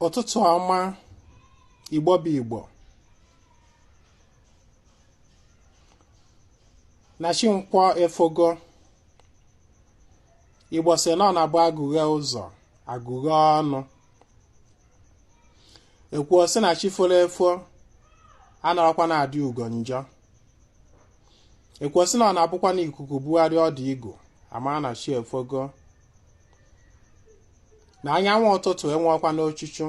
ụtụtụ ọma igbo bụ igbo na chi nkwọ efogo igbo sị na ọ na-abụ agụghe ụzọ agụghe ọnụ e kwuo sị na chi foro efo anarọkwanụ adị ugo njọ e kwuo sị na ọ na-abụkwa na ikuku bugharị ọdụ igu a mara na chi efogo na anyanwụ ụtụtụ enwekwa n'ochuchu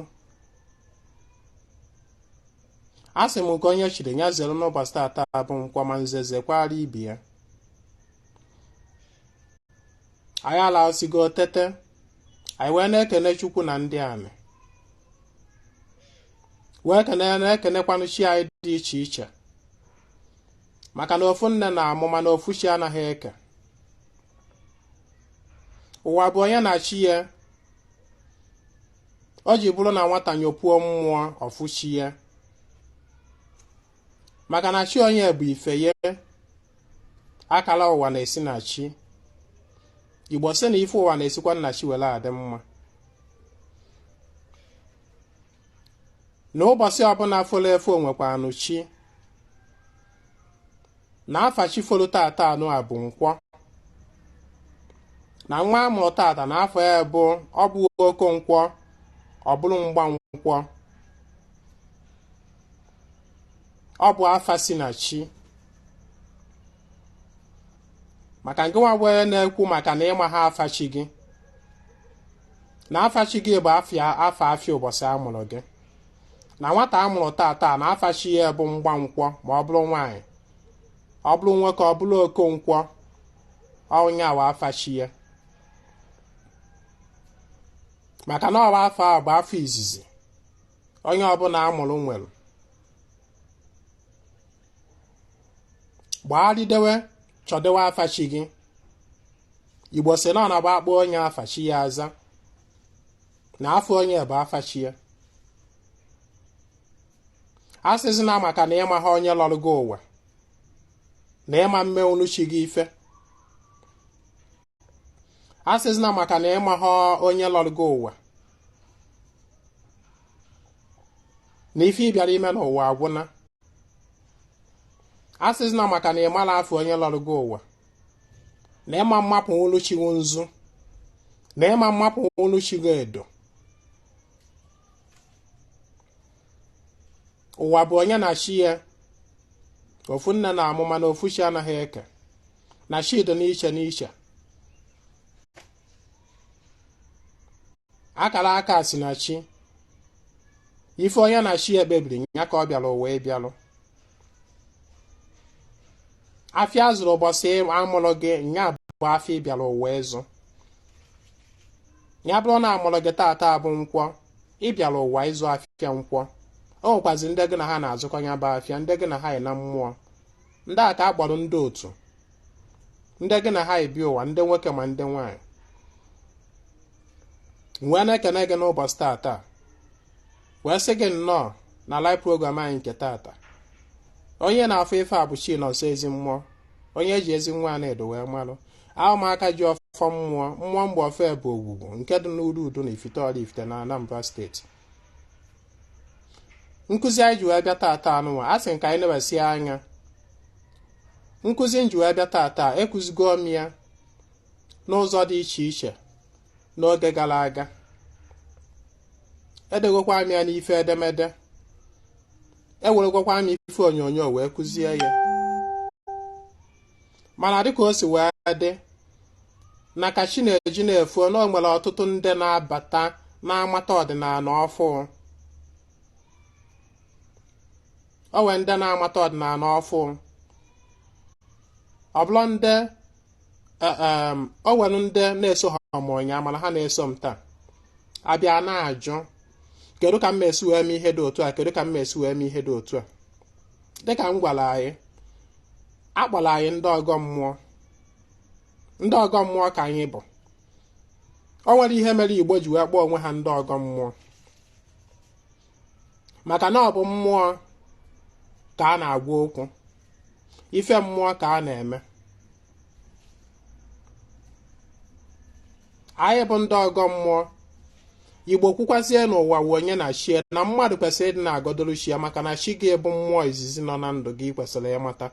a sị m nke onye chiri ya zere n'ụbọchị tata bụ nkwọ ma nze zekwara ibe ya anyị alasigo tete anyị wee na-ekene chukwu na ndị anị wee kene na-ekenekwanụ chi anyị dị iche iche maka na ofu nne na-amụ mana ofu chi anaghị eke ụwa bụ onye na chi ya o ji bụrụ na nwata nyopuo mmụọ ọ fụ chi ya maka na chi onye bụ ife ya akala ụwa na-esi na chi igbo sị na ife ụwa na-esikwanụ na chi were adị mma na ụbọchị ọbụla folo efo nwekwanụ chi na afa chi folo tata anụ a bụ nkwọ na nwa a mụrụ tata na afa ya bụ ọ bụ okonkwọ ọ bụrụ mgbankwọ ọ bụ afa si na chi maka nke nwa wee na-ekwu maka na ị maha afa chi gị na afa chi gị bụ afa afịa ụbọchị a mụrụ gị na nwata a mụrụ tata na afa chi ya bụ mgbankwọ ma ọ bụrụ nwaanyị ọ bụrụ nwoke ọ bụrụ okonkwọ ọ nya wụ afa chi ya maka na ọ wụ afa a bụ afa izizi onye ọbụla a mụrụ nwere gbagharịdewe chọdewe afa chi gị igbo sị na ọ na-abụ a kpọọ onye afa chi ya aza na afa onye bụ afa chi ya asịzina maka na ị maha onye lọrọ gị ụwa na ị ma emenwu chi gị ife asịzina maka na ị maha onye lọrọ gị ụwa na ife ị bịara ime n'ụwa agwụna asịzina maka na ị mara afa onye lọrọ gị ụwa na ịma mapụọlụ chi gị nzu na ịma mapụọlụ chi gị edo ụwa bụ onye na chi ya ofu nne na-amụ mana ofu chi anaghị eke na chi dị n'iche n'iche akara aka si na chi ife onye na chi ya kpebiri nya ka ọ bịara ụwa ịbịalụ afịa azụrụ ụbọchị amụrụ gị nya bụ afịa ị bịara ụwa ịzụ nya bụrụ na amụrụ gị taata bụ nkwọ ị bịara ụwa ịzụ afịa nkwọ o nwekwazi ndị gị na ha na-azụkọ nya bụ afịa ndị gị na ha yi na mmụọ ndị a ka a kpọrọ ndị otu ndị gị na ha yi bịa ụwa ndị nwoke ma ndị nwaanyị m wee na-ekene gị n'ụbọchị taata wee sị gị nnọọ na live program anyị nke taata onye na-afụ ife a bụ Chinonso Ezimmụọ onye eji Ezinwa Anaedo wee malụ abụ m aka ji ọfọ mmụọ mmụọ m bu ọfọ ya bụ Ogwugwu nke dị n'Urudunu Ifite Ọlaifite na Anambra steeti nkụzi anyị ji wee bịa taata a nụnwa a sị ka anyị nebasie anya nkụzi m ji wee bịa taata ekụzigo m ya n'ụzọ dị iche iche n'oge gara aga edegokwa m ya n'ife edemede eweregokwa m ife onyonyo wee kụzie ya mana dịka o si wee dị na ka chi na-eji na-efo na o nwere ọtụtụ ndị na-abata na-amata ọdịnala ọfụụ o nwere ndị na-amata ọdịnala ọfụụ ọ bụrụ ndị e, e, o nwere ndị na-esohọ mụ ụnyaa mana ha na-eso m taa abịa na-ajụ kedu ka m ma-esi wee mee ihe dị otu a kedu ka m ma-esi wee mee ihe dị otu a dịka m gwara anyị akpọrọ anyị ndị ọgọ mmụọ ndị ọgọ mmụọ ka anyị bụ o nwere ihe mere igbo ji wee kpọọ onwe ha ndị ọgọ mmụọ maka na ọ bụ mmụọ ka a na-agwa okwu ife mmụọ ka a na-eme anyị bụ ndị ọgọ mmụọ igbo kwukwazie na ụwa wụ onye na chi e na mmadụ kwesịrị ịdị na-agọdoro chi ya maka na chi gị bụ mmụọ izizi nọ na ndụ gị i kwesịrị ịmata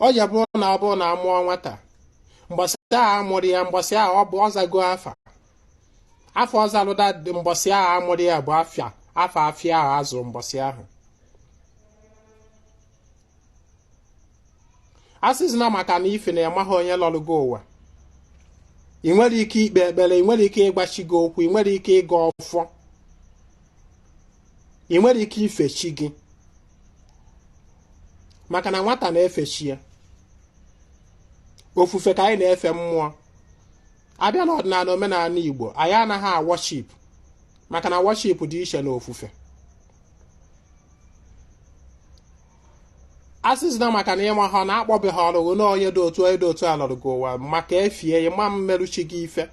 ọ ya bụrụ na ọ bụrụ na a mụọ nwata mbọsị ahụ amụrụ ya mbọsị ahụ ọ bụ ọ zago afa afọ ọzalụda dị mbọsị ahụ amụrụ ya bụ afịa afọ afịa ahụ azụrụ mbọsị ahụ a sịzina maka na ife na ịmaghị onye lọrụ gị ụwa ị nwere ike ikpe ekpere ị nwere ike ịgba chi gị okwu ị nwere ike ịgọ ọfọ ị nwere ike ife chi gị maka na nwata na-efe chi ya ofufe ka anyị na-efe mmụọ a bịa na ọdịnala omenala Igbo anyị anaghị a-worship maka na worship dị iche na ofufe a sịzina maka na ịma ha na akpọbe ha ọlụghụ na onye dị otu onye dị otu a lọrụ gị ụwa maka efie ya ma mmerụ chi gị ife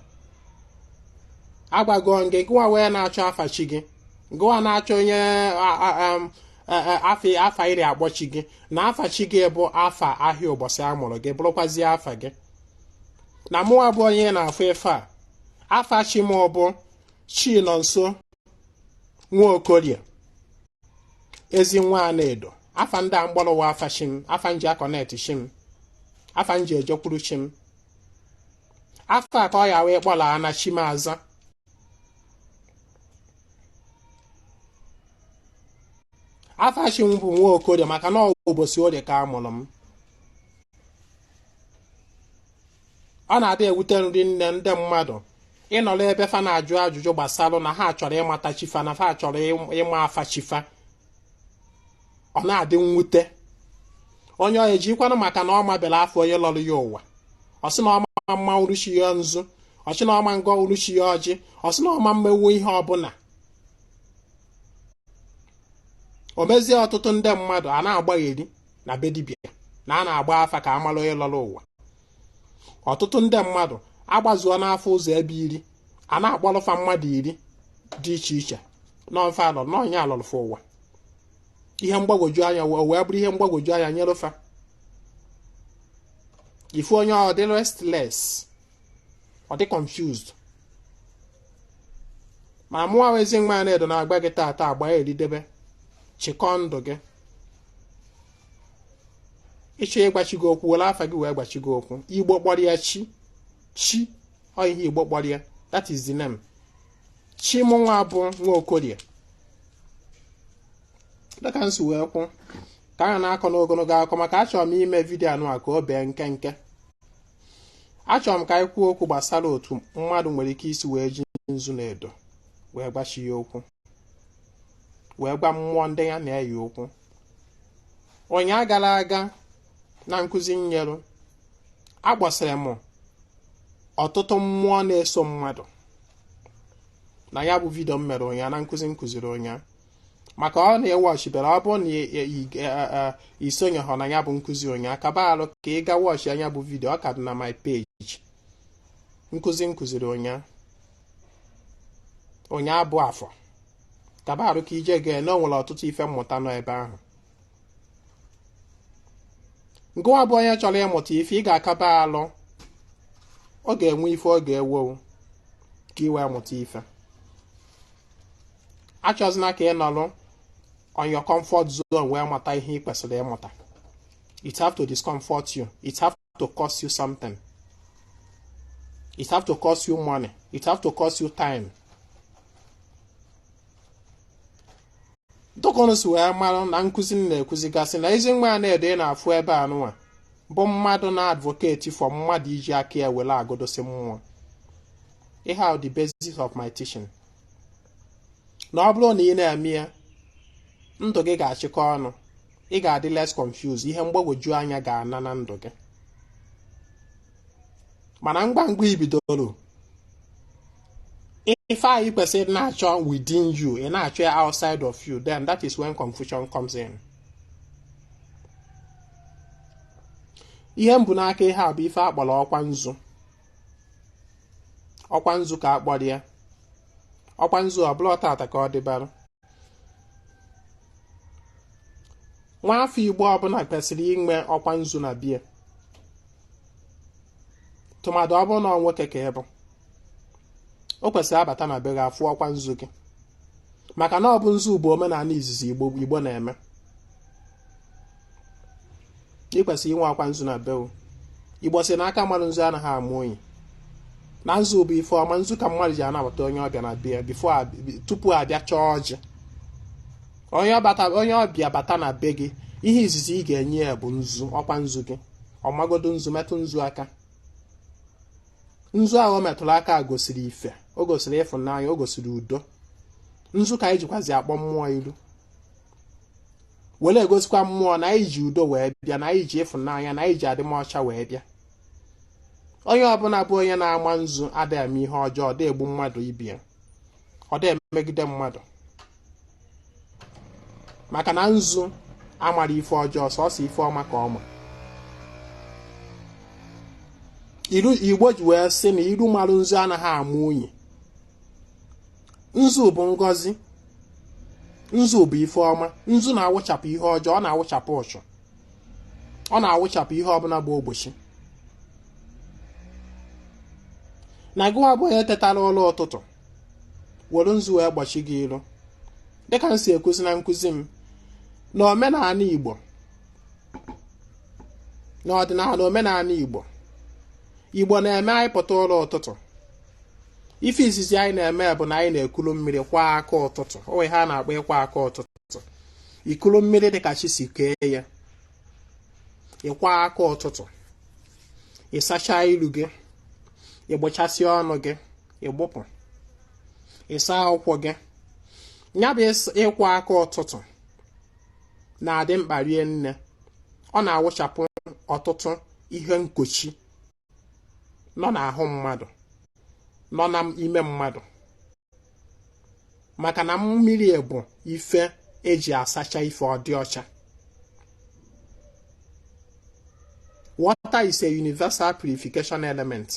agwago gị gụwa wee na-achọ afa chi gị gụwa na-achọ onye afa afa i ji akpọ chi gị na afa chi gị bụ afa ahịa ụbọchị a mụrụ gị bụrụkwazie afa gị na mụwa bụ onye na-afụ ife a afa chi m bụ chinọnso nwaokorie ezinwa anaedo afa ndị a m kpọrọ wa afa chi m afa m ji a-connect chi m afa m ji ejekwuru chi m afa ka ọ ya wee kpọla na chi m aza afa chi m bụ nwaokorie maka na ọ bụ ụbọsị orie ka a mụrụ m ọ na-adị ewute m rinne ndị mmadụ ịnọrọ ebe fa na-ajụ ajụjụ gbasara na ha chọrọ ịmata chi fa na fa chọrọ ịma afa chi fa ọ na-adị mwute onye ọ ejikwanụ maka na ọ mabere afa onye lọrọ ya ụwa ọ sị na ọ ma mmarụ chi ya nzu ọ sị na ọ ma ngọrụ chi ya ọjị ọ sị na ọ ma mmewu ihe ọbụla o mezie ọtụtụ ndị mmadụ a na-agbagheri na be dibịa na a na-agba afa ka a mara onye lọrọ ụwa ọtụtụ ndị mmadụ agbazuona afa ụzọ ebe iri a na-akpọrọ fa mmadụ iri dị iche iche na ọ fa lọ na onye a lọrọ fa ụwa ihe mgbagwoju anya o wee bụrụ ihe mgbagwoju anya nyere fa ị fụ onye ọ dị restless ọ dị confused ma mụwa ezinwa anaedo na-agba gị taata agba ya eridebe chịkọọ ndụ gị ị chọọ ịgwa chi gị okwu were afa gị wee gwa chi gị okwu igbo kpọrọ ya chi chi ọ ihe igbo kpọrọ ya that is the name chi mụ nwa bụ nwaokorie dịka m si wee kwuo ka a na-akọ n'ogologo akọ maka achọrọ m ime video anụwa ka o bee nkenke achọrọ m ka anyị kwuo okwu gbasara otu mmadụ nwere ike isi wee ji nzu na edo wee gba chi ya okwu wee gwa mmụọ ndị ya na-eyi ụkwụ ụnya gara aga na nkụzi m nyerụ akpọsịrị m ọtụtụ mmụọ na-eso mmadụ na ya bụ vidio m mere ụnya na nkụzi m kụziri ụnya maka ọ na ị wọchịbere ọ bụrụ na i sonyeghọ na ya bụ nkụzi ụnya kaba arụ ka ị ga wọchịa nya bụ vidio ọ ka dị na my page nkụzi m kụziri ụnya ụnya bụ afọ kaba arụ ka i je gee na o nwere ọtụtụ ife mmụta nọ ebe ahụ ngịwa bụ onye chọrọ ịmụta ife ị ga-akaba alụ ọ ga-enwe ife ọ ga-ewe wụ ka ị wee mụta ife achọzina ka ị nọrọ on your comfort zone wee mata ihe ị kwesịrị ịmụta it have to discomfort you it have to cost you something it have to cost you money it have to cost you time dịka ụnụ si wee mara na nkụzi m na-ekuzigasị na ezinwa anaedo ị na-afụ ebe a nụwa bụ mmadụ na-advocate for mmadụ iji aka ya were agọdosi mmụọ ihe ahụ the basis of my teaching na ọ bụrụ na ị na-eme ya ndụ gị ga-achịkọ ọnụ ị ga-adị less confused ihe mgbagwoju anya ga-ana na ndụ gị mana ngwa ngwa i bidoro ife a ị kwesịrị na-achọ within you ị na-achọ ya outside of you then that is when confusion comes in ihe m bu n'aka ihe a bụ ife a kpọrọ ọkwa nzu ọkwa nzu ka a kpọrọ ya ọkwa nzu ọ bụrọ tata ka ọ dịbara nwa afọ igbo ọbụla kwesịrị inwe ọkwa nzu na be ya tụmadụ ọ bụrụ na ọ nwoke ka ị bụ o kwesịrị a bata na be gị a fụ ọkwa nzu gị maka na ọ bụ nzu bụ omenala izizi igbo na-eme ị kwesịrị inwe ọkwa nzu na be wọ igbo si na aka marụ nzu anaghị ama unyi na nzu bụ ife ọma nzu ka mmadụ ji anabata onye ọbịa na be ya before tupu a bịa chọọ ọjị onye ọbịa bata na be gị ihe izizi ị ga-enye ya bụ nzu ọkwa nzu gị ọ magodo nzu metụ nzu aka nzu ahụ o metụrụ aka gosiri ife o gosiri ịfụnanya o gosiri udo nzu ka anyị jikwazi akpọ mmụọ iru were egosikwa mmụọ na anyị ji udo wee bịa na anyị ji ịfụnanya na anyị ji adịmọcha wee bịa onye ọbụla bụ onye na-ama nzu adịghị eme ihe ọjọọ ọ dị egbu mmadụ ibe ya ọ dị emegide mmadụ maka na nzu amara ife ọjọọ sọsọ ife ọma ka ọ ma igbo ji wee sị na iru marụ nzu anaghị ama unyi nzu bụ ngọzi nzu bụ ife ọma nzu na-awụchapụ ihe ọjọọ ọ na-awụchapụ ụchụ ọ na-awụchapụ ihe ọbụla bụ ogbochi na gịwa bụ onye tetara ụla ụtụtụ were nzu wee gbochi gị ilu dịka m si ekuzi na nkuzi m na omenala Igbo n'ọdịnala omenala Igbo Igbo na-eme anyị pụta ụla ụtụtụ ife izizi anyị na-eme bụ na anyị na-ekulu mmiri kwa aka ụtụtụ o nwe ihe a na-akpọ ịkwa aka ụtụtụ ikulu mmiri dị ka chi si kee ya ịkwa aka ụtụtụ ịsacha ilu gị ịgbụchasị ọnụ gị ịgbụpụ ịsa ụkwụ gị ya bụ ịkwa aka ụtụtụ na-adị mkpa rie nne ọ na-awụchapụ ọtụtụ ihe nkochi nọ n'ahụ mmadụ nọ n'ime mmadụ maka na mmiri bụ ife e ji asacha ife ọ dị ọcha water is a universal purification element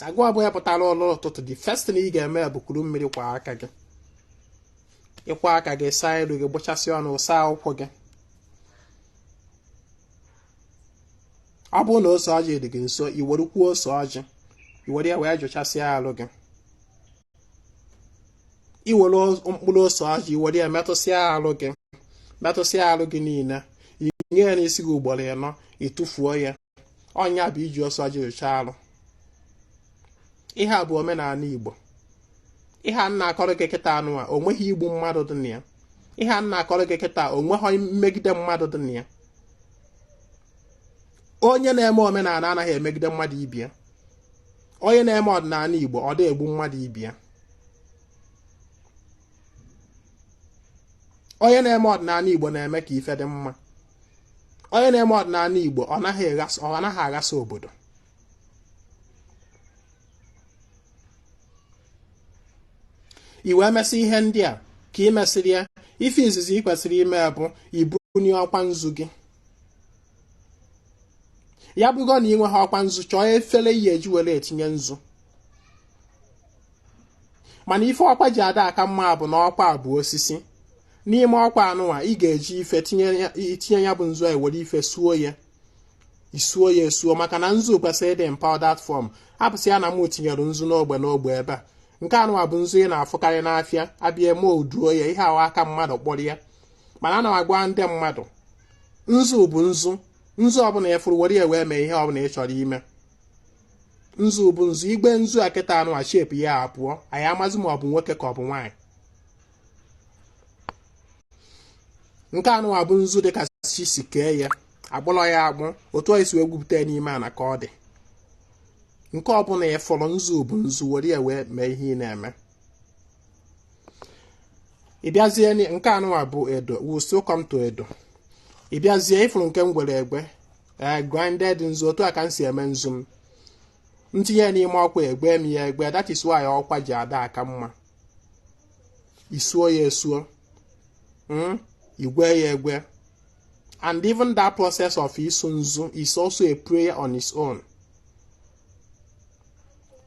na gịwa bụ onye pụtara ụla ụtụtụ the first thing ị ga-eme bụ kuru mmiri kwa aka gị ịkwa aka gị saa ilu gị gbụchasị ọnụ saa ụkwụ gị ọ bụrụ na ose ọjị dị gị nso i werekwuo ose ọjị i were ya wee jụchasịa arụ gị i were mkpụrụ ose ọjị i were ya metụsịa arụ gị metụsịa arụ gị niile i nye ya n'isi gị ugboro ịnọ ị tụfuo ya ọ nya bụ iji ose ọjị jụcha arụ ihe a bụ omenala Igbo ihe m na-akọrọ gị kịta anụwa o nweghị igbu mmadụ dị na ya ihe m na-akọrọ gị kịta o nweghị mmegide mmadụ dị na ya onye na-eme omenala anaghị emegide mmadụ ibe ya onye na-eme ọdịnala Igbo ọ dị egbu mmadụ ibe ya onye na-eme ọdịnala Igbo na-eme ka ife dị mma onye na-eme ọdịnala Igbo ọ naghị aghasa obodo i wee mesị ihe ndị a ka ị mesịrị ya ife izizi ị kwesịrị ime bụ ibunie ọkwa nzu gị ya bụgo na ị nweghị ọkwa nzu chọọ efere ị ya-eji were etinye nzu mana ife ọkwa ji ada aka mma bụ na ọkwa bụ osisi n'ime ọkwa anụwa ị ga-eji ife tinye ya bụ nzu a were ife suo ya isuo ya esuo maka na nzu kwesịrị ịdị in powdered form hapụsị ya na m tinyere nzu n'ogbe n'ogbe ebe a nke anụwa bụ nzu ị na-afụkarị n'afịa abịa e moulduo ya ihe ahụ aka mmadụ kpụrụ ya mana ana m agwa ndị mmadụ nzu bụ nzu nzu ọbụla ị fụrụ were ya wee mee ihe ọbụla ị chọrọ ime nzu bụ nzu igwe nzu a kịta anụwa shape ya apụọ anyị amazi ma ọ bụ nwoke ka ọ bụ nwaanyị nke anụwa bụ nzu dịka chi si kee ya akpụrọ ya akpụ otu anyị si wee gwupụta ya n'ime ana ka ọ dị nke ọbụla ị fụrụ nzu bụ nzu were ya wee mee ihe ị na-eme ịbịazie nke anụwa bụ edo we still come to edo ịbịazie ịfụrụ nke m gwere egwe ee eh, grinded nzu otu a ka m si eme nzu m m tinye n'ime ọkwa egwe m ya egwe that is why ọkwa ji ada aka mma isuo ya esuo hmm? igwe ya egwe and even that process of isu nzu is also a prayer on its own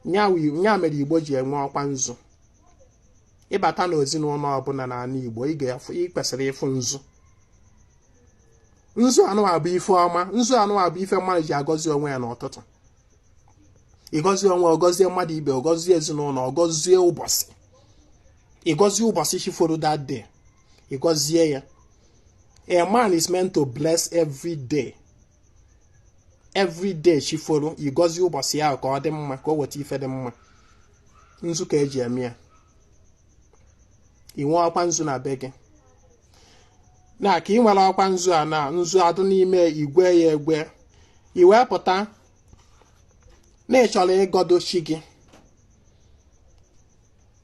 nya mere igbo ji enwe ọkwa nzu ịbata na ezinụlọ ọbụla n'ala igbo ị kwesịrị ịfụ nzu nzu anụwa bụ ife ọma nzu anụwa bụ ife mmadụ ji agọzi onwe ya n'ụtụtụ ịgọzie onwe ọgọzie mmadụ ibe ọgọzie ezinụlọ ọgọzie ụbọchị ịgọzie ụbọchị chi foro that day ịgọzie ya a man is meant to bless every day every day chi foro ịgọzie ụbọchị ahụ ka ọ dị mma ka o weta ife dị mma nzu ka eji eme ya ị nwee ọkwa nzu na be gị na ka ị nwere ọkwa nzu a na nzu adụ n'ime igwe ya egwe i wee pụta na ị chọrọ ịgọdo chi gị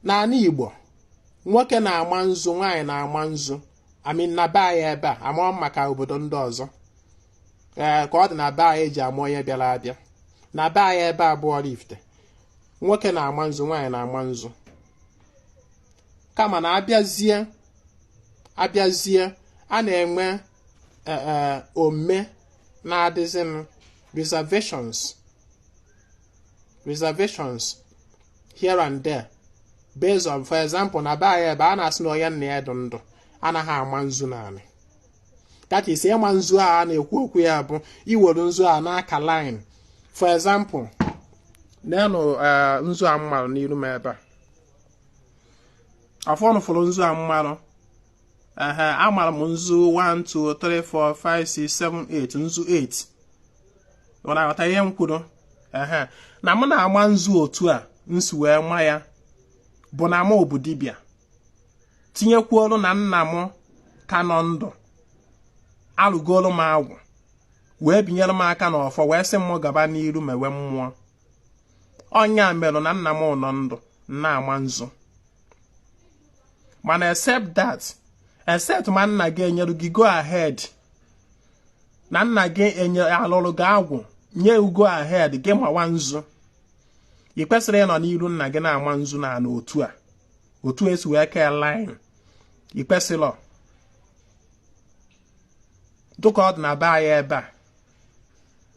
n'ala Igbo nwoke na-ama nzu nwaanyị na-ama nzu I mean na be anyị ebe a amarọ m maka obodo ndị ọzọ ee ka ọ dị na be anyị eji ama onye bịara abịa na be anyị ebe a bụ Oraifite nwoke na-ama nzu nwaanyị na-ama nzu kama na abịazie abịazie a na-enwe e, e, ome na-adịzinụ reservations reservations here and there based on for example na be anyị ebe a na-asị na onye nna ya dị ndụ anaghị ama nzu n'anị that is ịma nzu a a na-ekwu okwu ya bụ iwere nzu a na-aka line for example nenụ eh, nzu a m marụ n'iru m ebe a afọ unu fụrụ nzu a m marụ ehe amarụ m nzu 1 2 3 4 5 6 7 8 nzu 8 ọ na-aghọta ihe m kwuru ehe na m na-ama nzu otu a m si wee ma ya bụ na m bụ dibịa tinyekwuolu na nna m ka nọ ndụ alụgolu m agwụ wee binyere m aka n'ọfọ wee sị m gaba n'iru mewe mmụọ ọ nya merụ na nna m nọ ndụ na-ama nzu mana except that except ma nna gị enyere gị go ahead na nna gị enye alụrụ gị agwụ nye gị go ahead gị mawa nzu ị kwesịrọ ịnọ n'iru nna gị na-ama nzu na anị otu a otu esi wee kee line ị kwesịrọ dụka ọ dị na be anyị ebe a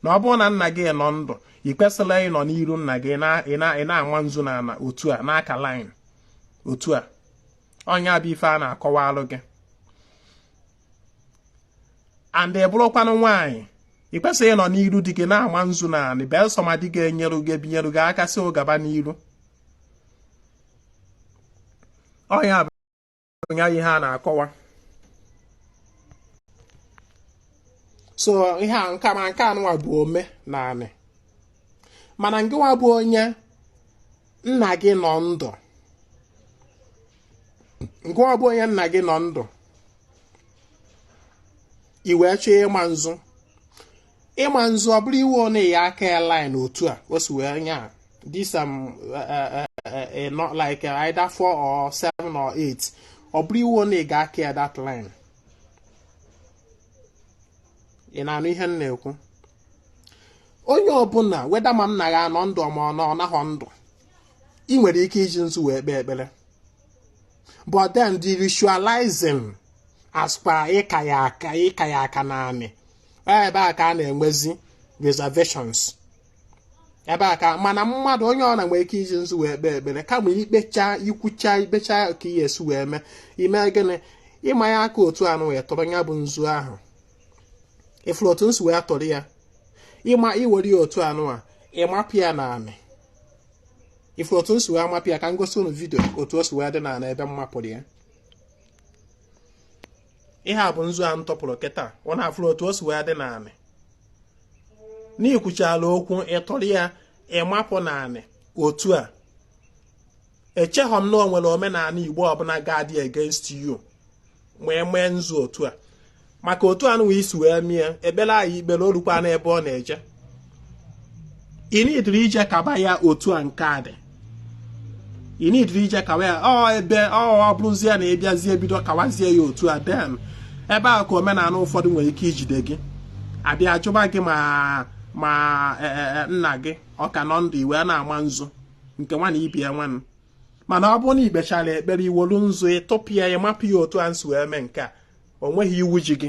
na ọ bụrụ na nna gị nọ ndụ ị kwesịrọ ịnọ n'iru nna gị ị na-ama nzu na anị otu a na-aka line otu a ọ nya bụ ife a na-akọwalụ gị and ị bụrụkwanụ nwaanyị ị kwesịrọ ịnọ n'iru di gị na-ama nzu na anị belụsọ ma di gị enyere gị ebinyere gị aka sị gị gaba n'iru ọ nya ya ihe a na-akọwa so ihe a nka ma nke anụnwa bụ omenanị mana ngịwa bụ onye nna gị nọ ndụ ngịwa bụ onye nna gị nọ ndụ i wee chọọ ịma nzu ịma nzu ọ bụrọ iwu na ị ya-aka ya line otu a o si wee nya this um, uh, uh, not like either four or seven or eight ọ bụrọ iwu na ị ga-aka ya that line ị na-anụ ihe m na-ekwu onye ọbụla whether ma nna ya nọ ndụ ma ọ nọ ọ nọghọ ndụ ị nwere ike iji nzu wee kpee ekpere but then the ritualizing as kwa ịka ya aka ịka ya aka na anị ebe a ka a na-enwezi reservations ebe a ka mana mmadụ onye ọbụna nwere ike iji nzu wee kpee ekpere kama ikpecha ikwucha ikpecha ka ihe esi wee mee i mee gịnị ịma ya aka otu anụwa tụrụ ya bụ nzu ahụ ị fụrụ otu m si wee tụrụ ya ịma i were ya otu anụwa ị mapụ ya na anị ị fụrụ otu m si wee mapụ ya ka m gosi unu vidio otu o si wee dị na anị ebe m mapụrụ ya ihe a bụ nzu a m tụpụrụ kịta unu afụrụ otu o si wee dị na anị na i kwuchala okwu ị tụrụ ya ị mapụ na anị otu a echeghọ m na o nwere omenala igbo ọbụla ga-adị against you ma i mee nzu otu a maka otu anụwa i si wee mie ekpere anyị kpere olukwa n'ebe ọ na-eje i needirọ ije kaba ya otu a nke a dị i needirọ ije kaba ya ọ ebe ọ bụrụzie na ị bịazie bido kawazie ya otu a then ebe a ka omenala ụfọdụ nwere ike ijide gị a bịa jụba gị ma ma e, e, e, nna gị ọ ka nọ ndụ i wee na-ama nzu nke nwa na ibie nwanụ mana ọ bụrụ na i kpechara ekpere i wolu nzu ị tụpụ ya mapụ ya otu a m si wee mee nke a o nweghị iwu ji gị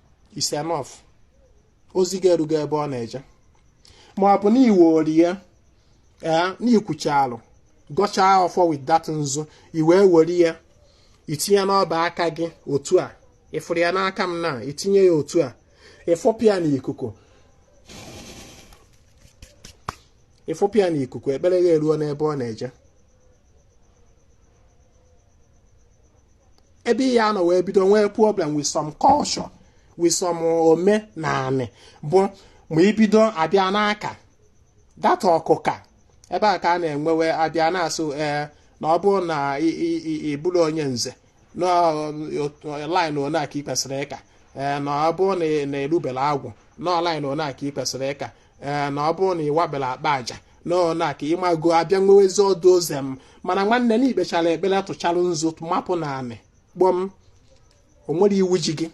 is enough ozi gị erugo ebe ọ na-eje ma ọ bụ na i wolu ya ee na i kwuchalụ gọchaa ọfọ with that nzu i wee were ya i tinye n'ọba aka gị otu a ị fụrụ ya n'aka m na i tinye ya otu a ị fụpụ ya n'ikuku ekpere ya eruo n'ebe ọ na-eje ebe ị ya-anọ wee bido nwee problem with some culture with some omenaanị bụ ma i bido bịa na-aka that ọkụka ebe a ka a na-enwewe a bịa na-asị ee na ọ bụrụ na ị bụrụ onye nze line one a ka ị kwesịrị ịka ee na ọ bụrụ na ị lụbela agwụ na line one a ka ị kwesịrị ịka ee na ọ bụrụ na ị wabela akpa aja nọọ na ka ị mago a bịa nwewezi all those em mana nwanne na i kpechara ekpere tụchara nzu mapụ n'anị gbọm o nwerọ iwu ji gị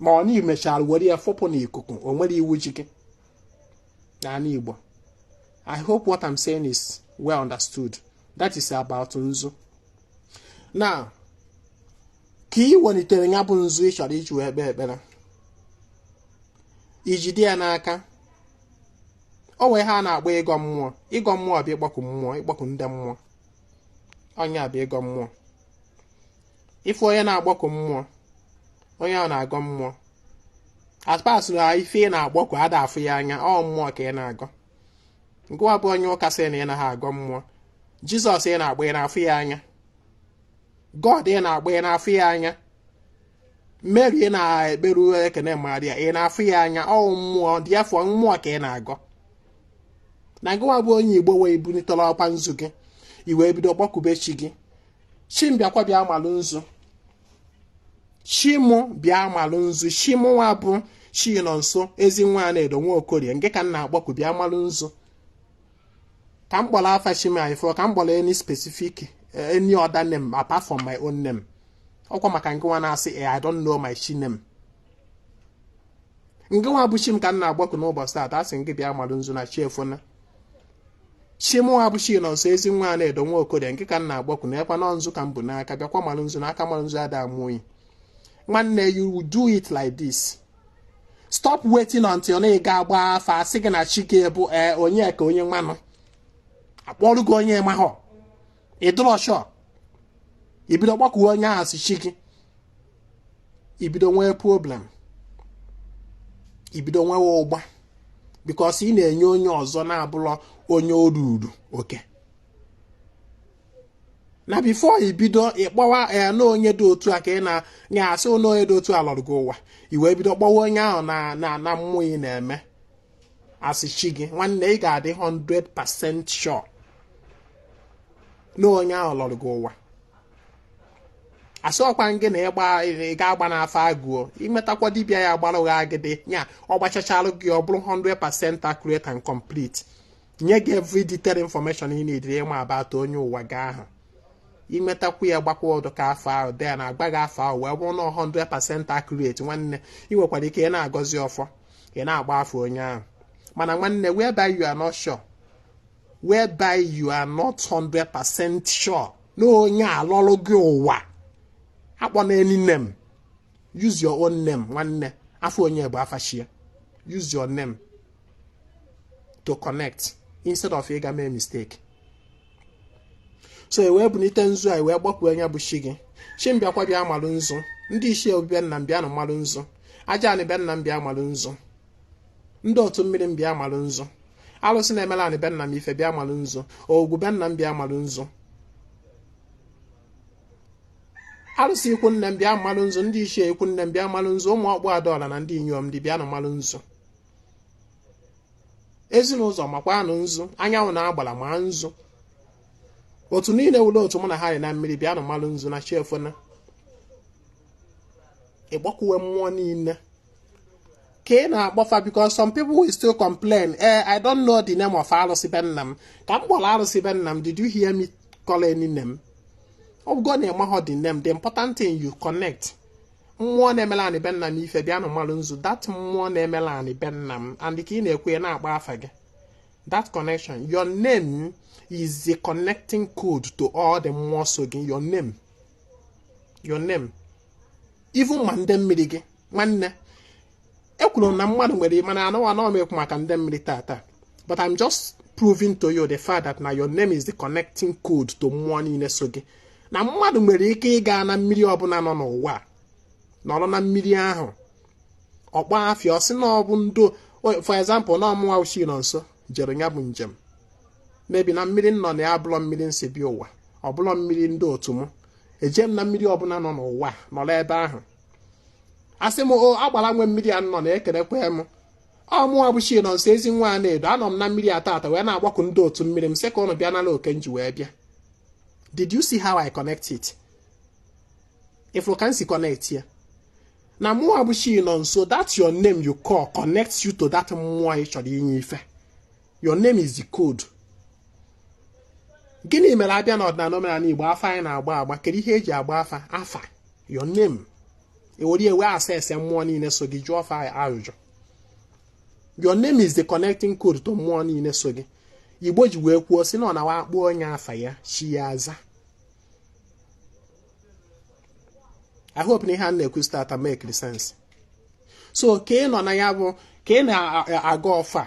ma ọ na i mechara were ya fụpụ n'ikuku o nwerọ iwu ji gị n'ala Igbo I hope what I'm saying is well understood that is about nzu now ka ị welitere ya bụ nzu ị chọrọ iji wee kpee ekpere i jide ya n'aka o nwee ihe a na-akpọ ịgọ mmụọ ịgọ mmụọ bụ ịkpọku mmụọ ịkpọku ndị mmụọ ọ ya bụ ịgọ mmụọ ị fụ onye na-akpọku mmụọ onye ahụ na-agọ mmụọ as far as na ife ị na-akpọku a da-afụ ya anya ọ mmụọ ka ị na-agọ ngịnwa bụ onye ụka sị na ị naghị agọ mmụọ jizọs ị na-akpọ ị na-afụ ya anya god ị na-akpọ ị na-afụ ya anya mary ị na-ekperu ekene maria ị na-afụ ya anya ọ mmụọ therefore mmụọ ka ị na-agọ ngịnwa bụ onye igbo wee bunitela ọkwa nzu gị i wee bido kpọkube chi gị chi m bịakwa bịa malụ nzu chi mụ bịa malụ nzu chi mụnwa bụ chinọnso ezinwa anaedo nwa okorie ngị ka m na-akpọku bịa malụ nzu ka m kpọrọ afa chi m ị fụ ka m kpọrọ any specific any other name apart from my own name ọkwa maka ngịnwa na-asị e I don't know my chi name ngịnwa bụ chi m ka m na-akpọku n'ụbọchị taata a sị gị bịa malụ nzu na chi efona chi mụwa bụ chinọnso ezinwa anaedo nwa okorie ngị ka m na-akpọku nekwanụ nzu ka m bu n'aka bịakwa mara nzu n'aka mara nzu ada amụ oyi nwanne you will do it like this stop waiting until na ị ga-agba afa a sị gị na chi gị bụ onye ka onye nwanụ a kpọrọ gị onye mahọ ị dịrọ sure i bido kpọkuwe onye ahụ as chi gị i bido nwee problem i bido nwewe ụgba because ị na-enye onye ọzọ na-abụlọ onye o ruuru oke na before i bido ịkpọwa ya na onye dị otu a ka ị na a sị onye dị otu a lọrọ gị ụwa i wee bido kpọwa onye ahụ na mmụọ ị na-eme as chi gị nwanne ị ga-adị 100% sure na onye ahụ lọrọ gị ụwa a sịrọkwa gị na ịgba ị ga-agba n'afa agụọ imetakwa dibịa ya gbara ụgha agịdị ya ọ gbachachalụ gị ọ bụrụ 100% accurate and complete nye gị every detailed information ị needịrị ịma about onye ụwa gị ahụ imetakwu ya gbakwa ọdụ ka afa ahụ dị ya na-agba gị afa ahụ wee bụrụ na 100% accurate nwanne ị nwekwara ike ị na-agọzi ọfọ ị na-akpọ afa onye ahụ mana nwanne whereby you are not sure whereby you are not 100% sure na onye a lọrụ gị ụwa akpọna any name use your own name nwanne afa onye bụ afa chi ya use your name to connect instead of ịga mee mistake so i wee bunite nzu a i wee kpọkuo onye bụ chi gị chi m bịakwa bịa malụ nzu ndị ichie obi be nna m bịanụ malụ nzu aja anị be nna m bịa malụ nzu ndị otu mmiri m bịa malụ nzu alụsị na-emela anị be nna m ife bịa malụ nzu agwụ be nna m bịa malụ nzu alụsị ikwu nne m bịa malụ nzu ndị ichie ikwu nne m bịa malụ nzu ụmụ ọkpụ adaọla na ndị inyom di bịanụ malụ nzu ezi na ụzọ makwanụ nzu anyanwụ na agbara ma nzu otu niile wụrụ otu mụ na ha dị na mmiri bịanụ malụ nzu na chi efona ị kpọkuwe mmụọ niile ka ị na-akpọ afa because some people will still complain eh I don't know the name of arụsị be nna m ka m kpọrọ arụsị be nna m did you hear me call any name ọ bụgo na ị maghọ the name the important thing you connect mmụọ na-emela anị be nna m ife bịanụ malụ nzu that mmụọ na-emela anị be nna m and ka ị na-ekwu ya na-akpọ afa gị that connection your name is the connecting code to all the mmụọ so gị your name your name even ma ndị mmiri gị nwanne ekwuru m na mmadụ nwere mana anụ anọ m ekwu maka ndị mmiri tata but I'm just proving to you the fact that na your name is the connecting code to mmụọ niile so gị na mmadụ nwere ike ịga na mmiri ọbụla nọ n'ụwa nọrọ na mmiri ahụ ọ kpọọ afa ya ọ sị na ọ bụ ndo for example na ọ mụwa bụ Chinọnso jere ya bụ njem maybe na mmiri nọ na ya abụlọ mmiri m si bịa ụwa ọ bụlọ mmiri ndị otu m eje m na mmiri ọbụla nọ n'ụwa nọrọ ebe ahụ asị m o agbara nwe mmiri a nnọọ na ekelekwee m ọ mụwa bụ Chinọnso ezi nwa Anaedo anọ m na mmiri a tata wee na-agbaku ndị otu mmiri m sị ka ụnụ bịa nala oke m ji wee bịa did you see how I connect it ị fụrụ ka m si connect ya na mụwa bụ Chinọnso that your name you call connects you to that mmụọ ị chọrọ inye ife your name is the code gịnị mere a bịa n'ọdịnala omenala igbo afa anyị na-agba agba kedu ihe eji agba afa afa your name ewere wee access mmụọ niile so gị jụọ fa ajụjụ your name is the connecting code to mmụọ niile so gị igbo ji wee kwuo sị na ọ na-awụ a kpọọ onye afa ya chi ya aza I hope na ihe a na-ekwu start to make sense so ka ị nọ na ya bụ ka ị na-agọ ọfọ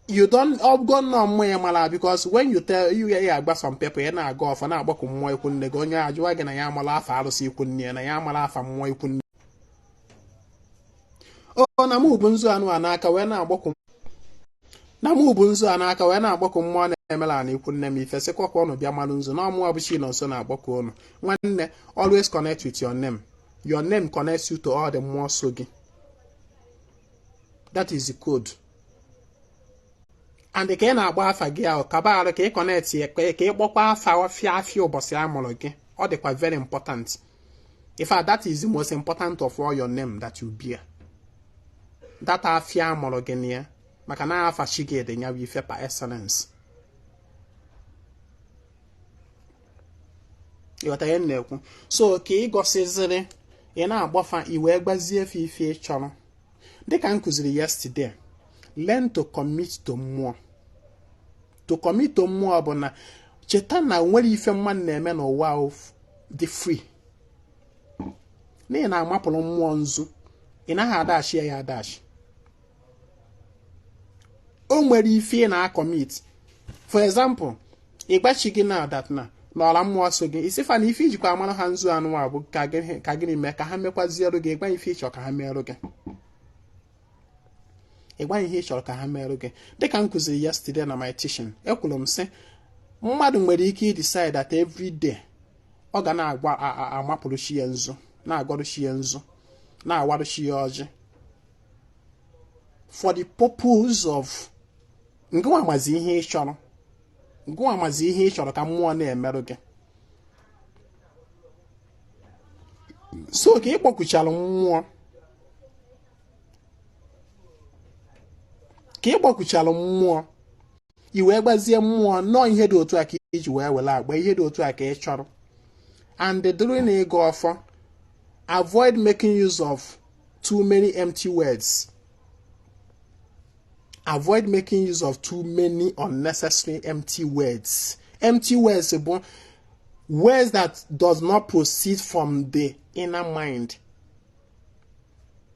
you don't ọgọ nnọọ mmụọ ya mara because when you tell you ị gwa some people ya na-agọ ọfọ na-agbaku mmụọ ikwu nne gị onye ajụwa gị na ya amalọ afa arụsị ikwu nne ya na ya amalọ afa mmụọ ikwu nne ọ na mụ bu nzu anụ a n'aka wee na-agbaku na mụ bu nzu a n'aka wee na-agbaku mmụọ na-emelụ ndị ikwu nne m ife sịkwa ka ụnụ bịa malụ nzu na ọ mụwa bụ Chinọnso na-agbaku ụnụ nwanne always connect with your name your name connects you to all the mmụọ so gị that is the code and ka ị na-agba afa gị ahụ kaba arụ ka ị connect ya ka ị kpọkwa afa ọfịa afịa ụbọchị a mụrụ gị ọ dịkwa very important in fact that is the most important of all your name that you bear that afịa a mụrụ gị na ya maka na afa chi gị dị ya bụ ife par excellence ị ghọta ihe m na-ekwu so ka ị gọsịziri ị na-agwa fa i wee gwazie fa ife ị chọrọ dịka m kụziri yesterday learn to commit to mmụọ to commit to mmụọ bụ na cheta na enwerọ ife mmadụ na-eme n'ụwa dị free na ị na-amapụrụ mmụọ nzu ị naghị adash ya adash o nwere ife ị na-acommit for example ị gwa chi gị na that na ọla mmụọ so gị ị sị fa na ife i jikwa amarụ ha nzu anụ a bụ ka gịnị mee ka ha mekwaziere gị ị gwa ife ị chọ ka ha merụ gị ịgwa ihe ị chọrọ ka ha merụ gị dịka m kụziri yesterday na my teaching ekwuru m sị mmadụ nwere ike decide that every day ọ ga na-agwa amapụrụ chi ya nzu na-agọrụ chi ya nzu na-awarụ chi ya ọjị for the purpose of ịgwa mmụọ ihe ị chọrọ ịgwa mmụọ ihe ị chọrọ ka mmụọ na-emerụ gị so ka ị kpọkuchara mmụọ ka ị kpọkuchara mmụọ i wee gwazie mmụọ na ọọ ihe dị otu a ka i ji wee were agba ihe dị otu a ka ị chọrọ and during ịgọ ọfọ avoid making use of too many empty words avoid making use of too many unnecessary empty words empty words bụ Words that does not proceed from the inner mind.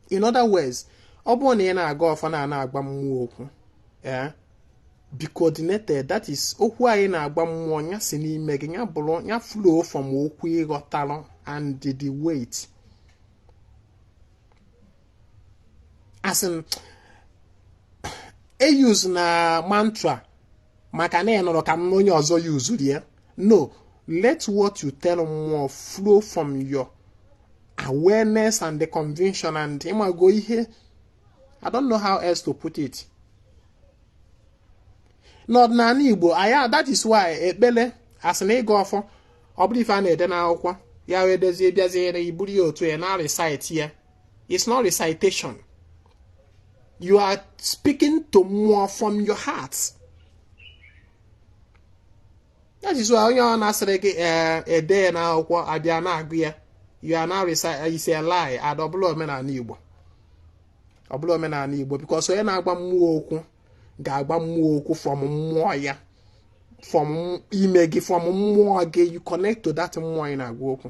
In other words, ọ bụrụ na ị na-agọ ọfọ na na-agwa mmụọ okwu eh, be coordinated that is okwu a ị na-agwa mmụọ ya si n'ime gị ya bụrụ ya flow from okwu ị ghọtalụ and the weight as in eyuzna mantra maka na ị nụrụ ka m onye ọzọ yuzuru ya no let what you tell mmụọ flow from your awareness and the conviction and ịmago ihe i don't know how else to put it n'ọdịnala igbo aya that is why ekpele as in ịgọ ọfọ ọ bụrọ ife a na-ede n'akwụkwọ ya wee dezie bịaziere i buru ya otu a na-arịsaịtị ya it's not recitation you are speaking to mmụọ from your heart that is why onye ọ na-asịrị gị eh, ede ya n'akwụkwọ abịa na-agụ ya you are now reciting it's a lie ada ọ bụrọ omenala igbo ọ bụrọ omenala igbo because onye na-agwa mmụọ okwu ga-agwa mmụọ okwu from mmụọ ya from ime gị from mmụọ gị you connect to that mmụọ ị na-agwa okwu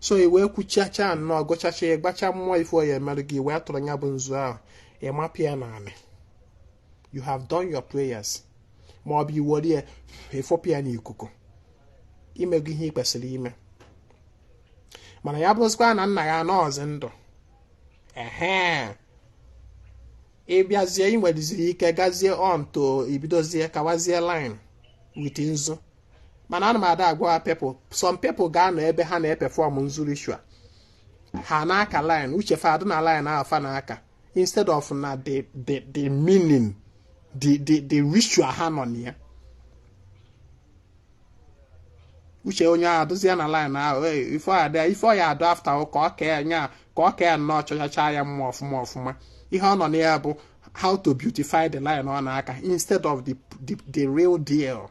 so i wee kwuchacha nnọọ gọchacha ya gwacha mmụọ ife ọ ya-emerụ gị wee tụrụ ya bụ nzu ahụ ị mapịa ya n'anị you have done your prayers ma ọ bụ i were ya ị fụpịa ya n'ikuku i mego ihe ị kwesịrị ime mana ya bụrụzikwa na nna ya anọọzi ndụ ehe ị bịazie i nwereziri ike gazie on to ibidozie kawazie line with nzu mana ana m ada agwa people some people ga-anọ ebe ha na-eperform nzu ritual ha na-aka line uche fa adị na line ahụ fa na-aka instead of na the the the meaning the the the ritual ha nọ na ya uche onye ahụ adụzie na line ahụ ife ọ ya ife ọ ya-adụ after ka ọ kee nya ka ọ kee nnọọ chọchacha ya mma ọfụma ọfụma ihe ọ nọ na ya bụ how to beautify the line ọ na-aka instead of the the, the real deal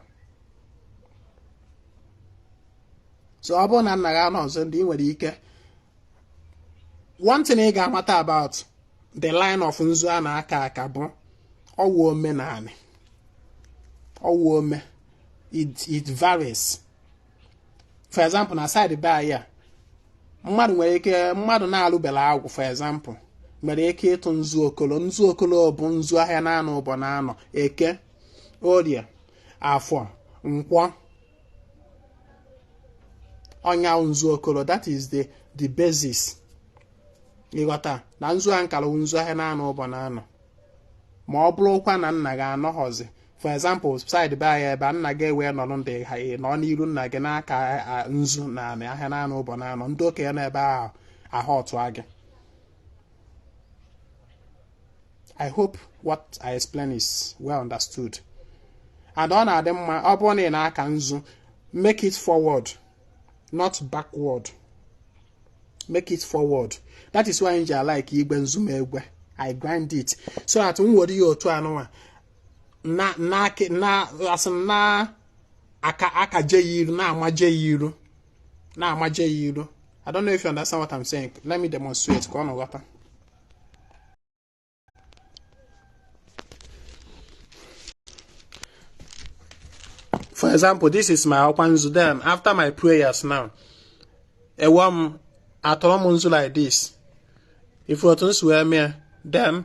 so ọ bụrụ na nna gị anọghọzi ndụ ị nwere ike one thing ị ga-amata about the line of nzu a na-aka aka bụ ọ wụ omenani ọ wụ ome it varies for example na side be anyị a mmadụ nwere ike mmadụ na-alụbela agwụ for example nwere ike ịtụ nzu okolo nzu okolo bụ nzu ahịa naanọ ụbọ naanọ eke orie afọ nkwọ ọ nya nzu okolo that is the the basis ị ghọta na nzu a m kalụ nzu ahịa naanọ ụbọ naanọ ma ọ bụrụkwa na nna gị anọghọzi for example side be anyị ebe a nna gị ewee nọrọ ndụ ị nọ n'iru nna gị na-aka a- nzu n'anị ahịa naanọ ụbọ naanọ ndị okenye n'ebe ahụ ahụ ọtụ gị I hope what I explain is well understood. and ọ na-adị mma ọ bụrụ na ị na-aka nzu make it forward not backward make it forward that is why m ji alike igwe nzu m egwe i grind it so that m were ya otu a nụnwa na na na asị m na-aka akaje ya iru na-amaje ya iru na-amaje ya iru I don't know if you understand what I'm saying. Let me demonstrate ka unu ghọta. For example, this is my ọkwa nzu then after my prayers now ewe m atọrọ m nzu like this ị fụ otu m si wee mee then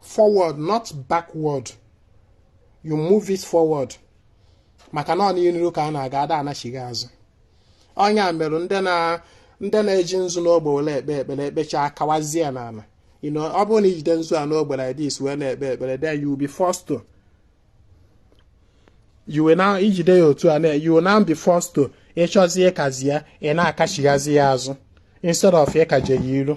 forward not backward you move it forward maka na ọ n'iru ka a na-aga ada anachigha azụ ọ nya mere ndị na ndị na-eji nzu n'ogbe were ekpe ekpere ekpecha akawazie ya n'ala you know ọ bụrụ na i jide nzu a n'ogbe like this wee na-ekpe ekpere then you will be forced to you will now i jide ya otu a na you will now be forced to ị chọzie ịkazi ya ị na-akachighazi ya azụ instead of ịkaje ya iru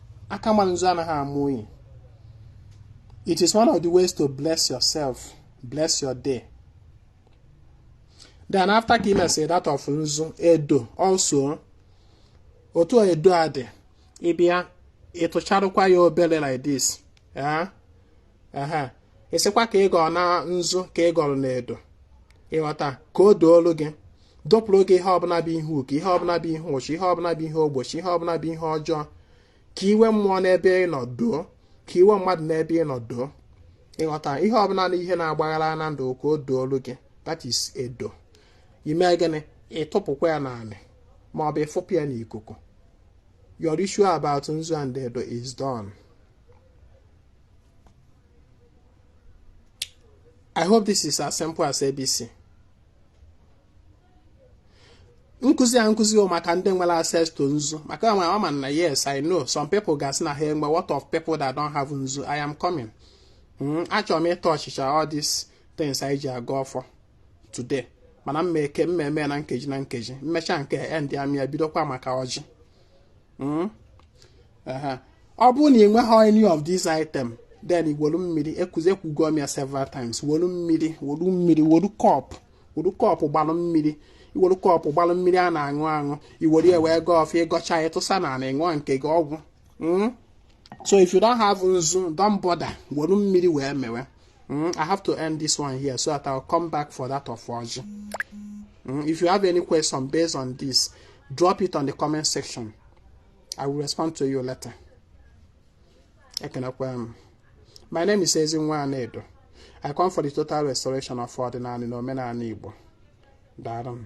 aka ma nzu anaghị ama unyi it is one of the ways to bless yourself bless your day then after ka i mesịrị that of nzu edo also otu edo a dị ị bịa tụcharụkwa ya obele like this eh? ehe ịsịkwa ka ị gọrọ na nzu ka ị gọrọ na edo ịghọta ka o doolu gị dopụrụ gị ihe ọbụla bụ ihe uke ihe ọbụla bụ ihe uchu ihe ọbụla bụ ihe ogbochi ihe ọbụla bụ ihe ọjọọ ka iwe mmụọ n'ebe ị nọ doo ka iwe mmadụ n'ebe ị nọ doo ịghọta ihe ọbụla na ihe na-agbaghara na ndụ ka o doolu gị that is edo i mee gịnị ịtụpụkwa ya n'anị ma ọ bụ ịfụpụ ya n'ikuku your issue about nzu and edo is done I hope this is as simple as ABC. nkụzi a nkụzi o maka ndị nwere access to nzu maka na ama m na yes I know some people ga-asị na ha enwe what of people that don't have nzu I am coming hmm, achọrọ m ịtouchịcha all these things e ji agọ ọfọ today mana m ma-eke m ma-eme na nkeji na nkeji m mecha nke end ya m bịa bidokwa maka ọjị hmm? ọ bụrụ na ị nweghị any of these item then wolu mmiri ekuzi ekwugo m ya several times wolu mmiri wolu mmiri wolu cup wolu cup gbalụ mmiri i wolu cup gbalụ mmiri a na-aṅụ aṅụ i were ya wee gọọ ọfọ ị gọcha ya tụsa na ala ị ṅụọ nke gị ọ gwụ hmm? so if you don't have nzu don't bother wolu mmiri wee mewe hmm? I have to end this one here so that I'll come back for that of ọjị hmm? if you have any question based on this drop it on the comment section i will respond to you later ekenekwa m my name is ezinwa anaedo i come for the total restoration of ọdịnanị na omenanị igbo daalụ m